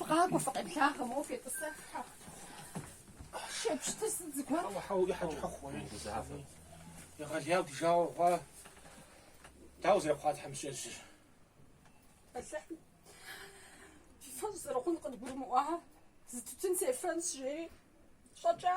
Фыкъакӏуэ, фыкъеблагъэ, моуэ фетӏысэххэ. Шепщтыр сыт зыгуэр? Хьэуэ, хьэуэ, и хьэкӏэ хьэху хъуэ. Узафэ. Егъэлеяу ди жагъуэ хъуа. Дауэ зэрыхъуа тхьэмыщкӏэжьыр? Алыхьым. Фи фӏэщ зэрыхъун къыдгурымыӏуа, зы тутын сефэнщ, жери щӏэкӏа.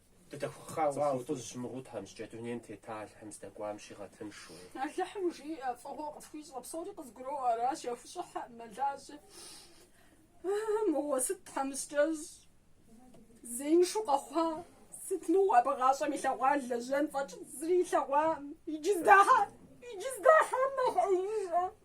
Дыдэхухъа уэ, Алъхьузщ, мыгъуу тхьэмыщкӏэ дунейм тета Алыхьым здэкӏуам щигъэтыншэу. Алыхьым жиӏэ, фӏыгъуэ къысхуищӏэ, псори къызгуроӏуэ, аращ яхущӏыхьэ, мэлажьэ. Мыгъуэ сыт тхьэмыщкӏэщ, зеиншу къэхъуа, сыт мыгъуэ абы гъащӏэм илъэгъуа лэжьэн фӏэкӏ зыри илъэгъуам, иджы здахьа, иджы здахьам нэхъ ӏеижщ.